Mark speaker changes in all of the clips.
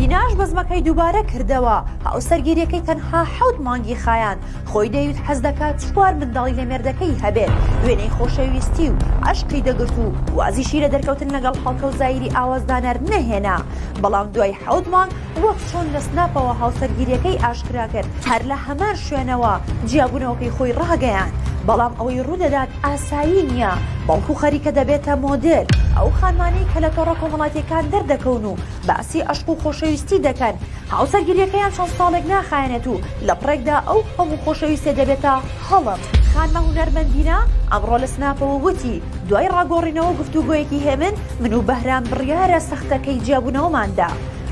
Speaker 1: دیناش بەزمەکەی دووبارە کردەوە هاوسەرگیریەکەی تەنها حەوت مانگی خایاند خۆی دەویست حەز دەکات چوار منداڵی لە مێردەکەی هەبێت وێنەی خۆشەویستی و عشقی دەگرت و وازیشی لە دەرکەوتن لەگەڵ هەڵکەوزایری ئاوازدانەر نەهێنا بەڵام دوای حەوت مانگ وەک چۆن لە سناپەوە هاوسەرگیرییەکەی ئاشکرا کرد، هەر لە هەمان شوێنەوە جیابوونەوەکەی خۆی ڕاگەیاند، بەڵام ئەوەی ڕوودەدات ئاسایی نییە، بەڵکو خەریکە دەبێتە مۆدێل، ئەو خانمانەی کە لە تۆڕە کۆمەڵاتییەکان دەردەکەون و باسی عەشق و خۆشەویستی دەکەن، هاوسەرگیرییەکەیان چەند ساڵێک ناخایەنێت و لەپڕێکدا ئەو هەموو خۆشەویستیە دەبێتە هەڵم. خانمە هونەرمەندینە ئەمڕۆ لە سناپەوە وتی، دوای ڕاگۆڕینەوە و گفتوگۆیەکی هێمن، من و بەهرام بڕیارە سەختەکەی جیابوونەوەمان دا،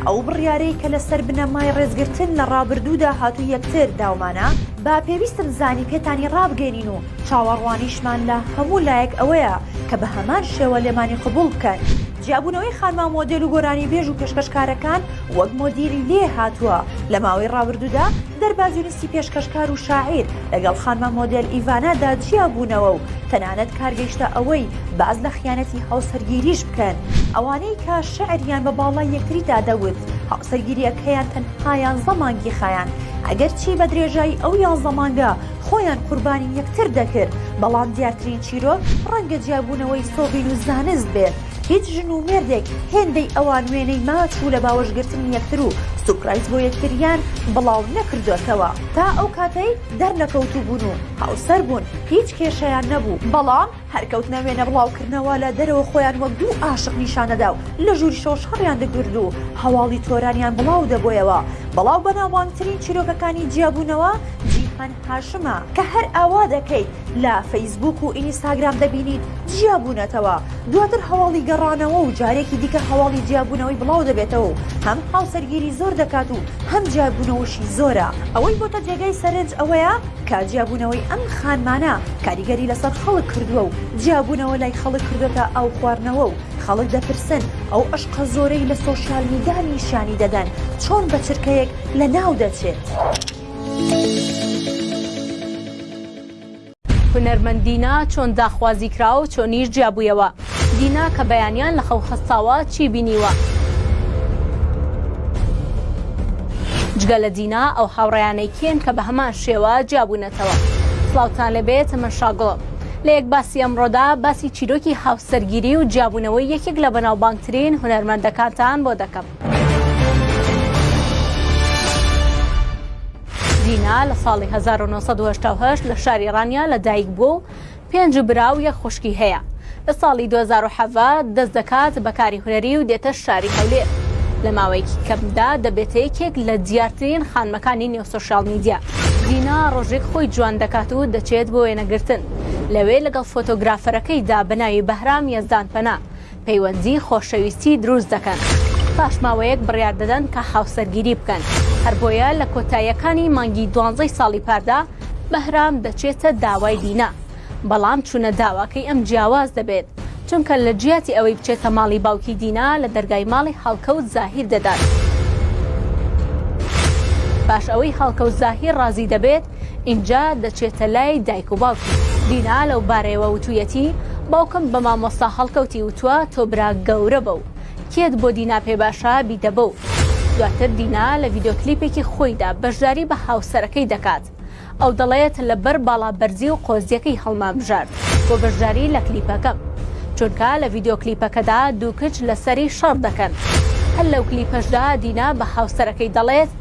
Speaker 1: ئەو بڕیارەی کە لەسەر بنەمای ڕێزگرتن لە ڕابردوودا هاتوو یەکتر داومانە با پێویستم زانی پێتانی ڕابگەێنین و چاوەڕوانیشمان لە هەموو لایەک ئەوەیە کە بە هەمان شێوە لێمانی قبوڵ بکەن. جیابوونەوەی خانمە مۆدێل و گۆرانیبێژ و پێشکەشکارەکان وەک مۆدیلی لێ هاتووە لە ماوەی ڕابردوودا دەربازی سی پێشکەشکار و شاعیر لەگەڵ خانمە مۆدێل ئیڤانادا جیابوونەوە و تەنانەت کار گەیشتە ئەوەی باس لە خیانەتی هاوسەرگیریش بکەن، ئەوانەی کە شیعریان بە باڵای یەکتریدا دەوت، هاوسەرگیرییەکەیان تەنها یانزە مانگی خایاند، ئەگەرچی بە درێژایی ئەو یانزە مانگە خۆیان قوربانی یەکتر دەکرد، بەڵام دیارترین چیرۆک ڕەنگە جیابوونەوەی سۆڤین و زانست بێت، هیچ ژن و مێردێک هێندەی ئەوان وێنەی ماچ و لە باوەش گرتنی یەکتر و سوپرایز بۆ یەکتریان بڵاو نەکردۆتەوە تا ئەو کاتەی دەرنەکەوتوبوون و هاوسەر بوون هیچ کێشەیان نەبوو بەڵام هەر کەوتنە وێنە بڵاو کردنەوە لە دەرەوە خۆیان وەک دوو عاشق نیشان دەدا و لە ژوریشەوە شەڕیان دەگرد و هەواڵی تۆرانیان بڵاو دەبۆیەوە بڵاو بەناوبانگترین چیرۆکەکانی جیابوونەوە جیهان هاشمە کە هەر ئاوا دەکەیت لە فەیسبووک و ئینیستاگرام دەبینیت جیا بوونەتەوە دواتر هەواڵی گەڕانەوە و جارێکی دیکە هەواڵی جیابوونەوەی بڵاو دەبێتەوە و هەم هاوسەرگیری زۆر دەکات و هەم جیابوونەوەشی زۆرە ئەوەی بۆتە جێگای سەرنج ئەوەیە کە جیابوونەوەی ئەم خانمانە کاریگەری لەسەر خەڵک کردووە و جیابوونەوە لای خەڵک کردوێتە ئاو خواردنەوە و خەڵک دەپرسن ئەو عشقە زۆرەی لە سۆشیال میدا نیشانی دەدەن چۆن بە چرکەیەک لە ناو دەچێت. هونەرمەند دینا چۆن داخوازی کراوە و چۆنیش جیابوویەوە؟ دینا کە بەیانیان لە خەو هەستاوە چی بینیوە؟ جگە لە دینا ئەو هاوڕێیانەی کێن کە بە هەمان شێوە جیابوونەتەوە؟ سڵاوتان لەبێت من شاگوڵم لە یەک باسی ئەمڕۆدا باسی چیرۆکی هاوسەرگیری و جیابوونەوەی یەکێک لە بەناوبانگترین هونەرمەندەکانتان بۆ دەکەم. دینا لە ساڵی 1970 لە شاری ڕانیا لە دایک بووە و پێنج برا و یەک خوشکی هەیە لە ساڵی 2017 دەست دەکات بە کاری هونەری و دێتە شاری هەولێر لە ماوەیەکی کەمدا دەبێتە یەکێک لە دیارترین خانمەکانی نێو سوسیال میدیا دینا ڕۆژێک خۆی جوان دەکات و دەچێت بۆ وێنەگرتن لەوێ لەگەڵ فۆتۆگرافەرەکەیدا بە ناوی بەهرام یەزدان پەنا پەیوەندی خۆشەویستی دروست دەکەن پاش ماوەیەک بڕیار دەدەن کە هاوسەرگیری بکەن هەر بۆیە لە کۆتاییەکانی مانگی دوانزەی ساڵی پاردا بەهرام دەچێتە داوای دینا بەڵام چونە داواکەی ئەم جیاواز دەبێت چونکە لە جیاتی ئەوەی بچێتە ماڵی باوکی دینا لە دەرگای ماڵی هەڵکەوت زاهیر دەدات پاش ئەوەی هەڵکەوت زاهیر ڕازی دەبێت ئینجا دەچێتە لای دایک و باوکی. دینا لەو بارەیەوە وتوویەتی، باوکم بە مامۆستا هەڵکەوتی وتووە تۆ برا گەورە بە و کێت بۆ دینا پێ باشە بیدە بە و. دواتر دینا لە ڤیدیۆ کلیپێکی خۆیدا بەشداری بە هاوسەرەکەی دەکات. ئەو دەڵێت لەبەر باڵا بەرزی و قۆزییەکەی هەڵمانبژارد بۆ بەشداری لە کلیپەکەم. چونکە لە ڤیدیۆ کلیپەکەدا دوو کچ لەسەری شەڕ دەکەن. هەر لەو کلیپەشدا دینا بە هاوسەرەکەی دەڵێت،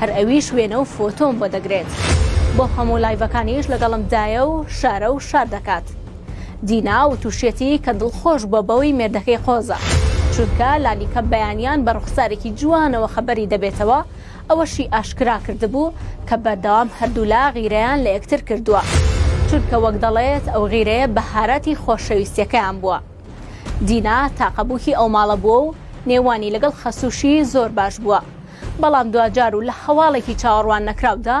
Speaker 1: هەر ئەویش وێنە و فۆتۆم بۆ دەگرێت بۆ هەموو لایڤەکانیش لەگەڵم دایە و شارە و شار دەکات دینا وتوشیەتی کە دڵخۆش بە بەوەی مێردەکەی قۆزە چونکە لانیکەم بەیانیان بە ڕوخسارێکی جوانەوە خەبەری دەبێتەوە ئەوەشی ئاشکرا کردبوو کە بەردەوام هەردوولا غیرەیان لە یەکتر کردووە چونکە وەک دەڵێت ئەو غیرەیە بەهاراتی خۆشەویستیەکەیان بووە دینا تاقە بووکی ئەو ماڵە بووە و نێوانی لەگەڵ خەسووشی زۆر باش بووە بەڵام دواجار و لە هەواڵێکی چاوەڕوان نەکراودا،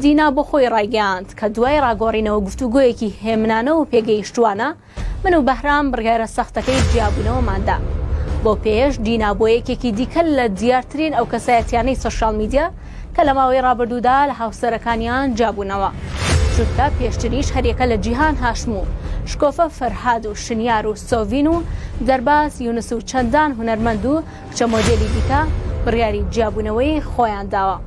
Speaker 1: دینا بۆ خۆی ڕایگەیاند کە دوای ڕاگۆڕینەوە گفتوگۆیەکی هێمنانە و پێگەیشتووانە، من و بەهرام بڕیارە سەختەکەی جیابوونەوەمان دا. بەو پێیەش دینا بووە یەکێکی دیکە لە دیارترین ئەو کەسایەتییانەی سۆشیال میدیا کە لە ماوەی ڕابردوودا لە هاوسەرەکانیان جیابوونەوە، چونکە پێشتریش هەر یەکە لە جیهان هاشم و شکۆفە فەرهاد و شنیار و سۆڤین و دەرباز یونس و چەندان هونەرمەند و چەند مۆدێلی دیکە بڕیاری جیابوونەوەی خۆیان داوە.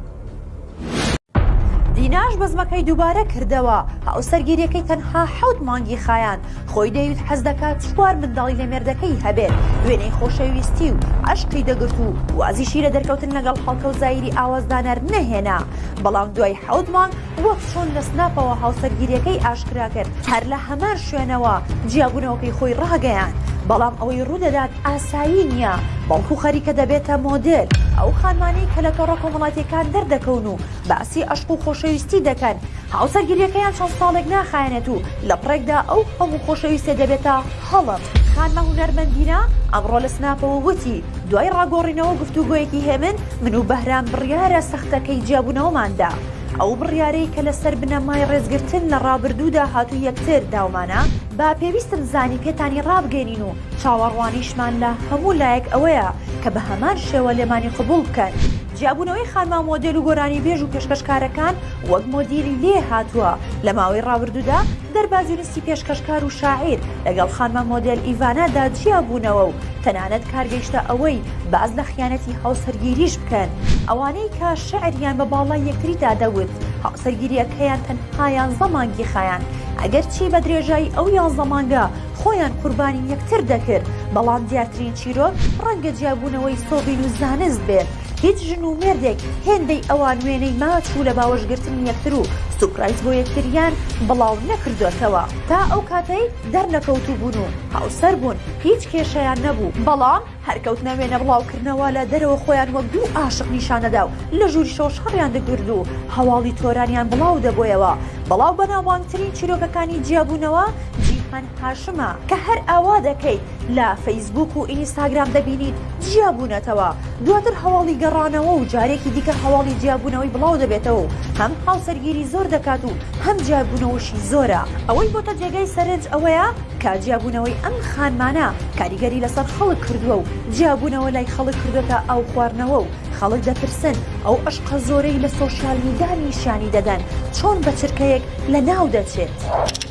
Speaker 1: دیناش بەزمەکەی دووبارە کردەوە هاوسەرگیریەکەی تەنها حەوت مانگی خایاند خۆی دەیوت حەز دەکات چوار منداڵی لە مێردەکەی هەبێت وێنەی خۆشەویستی و عشقی دەگرت و وازیشی لە دەرکەوتن لەگەڵ هەڵکەوزایری ئاوازدانەر نەهێنا بەڵام دوای حەوت مانگ وەک چۆن لە سناپەوە هاوسەرگیریەکەی ئاشکرا کرد، هەر لە هەمان شوێنەوە جیابوونەوەکەی خۆی ڕاگەیاند، بەڵام ئەوەی ڕوودەدات ئاسایی نییە، بەڵکو خەریکە دەبێتە مۆدێل، ئەو خانمانەی کە لە تۆڕە کۆمەڵاتیەکان دەردەکەون و باسی عەشق و خۆشەویستی دەکەن، هاوسەرگیریەکەیان چەند ساڵێک ناخایەنێت و لەپڕێکدا ئەو هەموو خۆشەویستیە دەبێتە هەڵم. خانمە هونەرمەندینە ئەمڕۆ لە سناپەوە وتی، دوای ڕاگۆڕینەوە گفتوگۆیەکی هێمن، من و بەهرام بڕیارە سەختەکەی جیابوونەوەمان دا، ئەو بڕیارەی کە لەسەر بنەمای ڕێزگرتن لە ڕابردوودا هاتوو یەکتر داومانە، با پێویستم زانی پێتانی ڕابگەینین و چاوەڕوانیشمان لە هەموو لایەک ئەوەیە کە بە هەمان شێوە لێمانی قبوڵ بکەن. جیابوونەوەی خانمە مۆدێل و گۆرانیبێژ و پێشکەشکارەکان وەک مۆدیلی لێ هاتووە لە ماوەی ڕابردوودا، دەربازینستی پێشکەشکار و شاعیر لەگەڵ خانمە مۆدێل ئیڤانادا جیابوونەوە و تەنانەت کار گەیشتە ئەوەی باس لە خیانەتی هاوسەرگیریش بکەن، ئەوانەی کە شیعریان بە باڵای یەکتریدا دەوت، هاوسەرگیرییەکەیان تەنها یانزە مانگی خایاند، ئەگەرچی بە درێژایی ئەو یانزە مانگە خۆیان قوربانی یەکتر دەکرد، بەڵام دیارترین چیرۆک ڕەنگە جیابوونەوەی سۆڤین و زانست بێت. هیچ ژن و مێردێک هێندەی ئەوان وێنەی ماچ و لە باوەش گرتنی یەکتر و سوپرایز بۆ یەکتریان بڵاو نەکردۆتەوە تا ئەو کاتەی دەرنەکەوتوو بوون و هاوسەر بوون هیچ کێشەیان نەبوو بەڵام هەر کەوتنە وێنە بڵاو کردنەوە لە دەرەوە خۆیان وەک دوو ئاشق نیشان دەدا و لە ژووری شەو شەڕیان دەکرد و هەواڵی تۆرانیان بڵاو دەبۆیەوە بەڵاو بەناوبانگترین چیرۆکەکانی جیابوونەوە جیهان هاشمە کە هەر ئاوا دەکەیت لە فەیسبووک و ئینیستاگرام دەبینیت جیا بوونەتەوە دواتر هەواڵی گەڕانەوە و جارێکی دیکە هەواڵی جیابوونەوەی بڵاو دەبێتەوە و هەم هاوسەرگیری زۆر دەکات و هەم جیابوونەوەشی زۆرە ئەوەی بۆتە جێگای سەرنج ئەوەیە کە جیابوونەوەی ئەم خانمانە کاریگەری لەسەر خەڵک کردووە و جیابوونەوە لای خەڵک کردوتە ئاو خواردنەوە و خەڵک دەپرسن ئەو عشقە زۆرەی لە سۆشیال میدا نیشانی دەدەن چۆن بە چرکەیەک لە ناو دەچێت.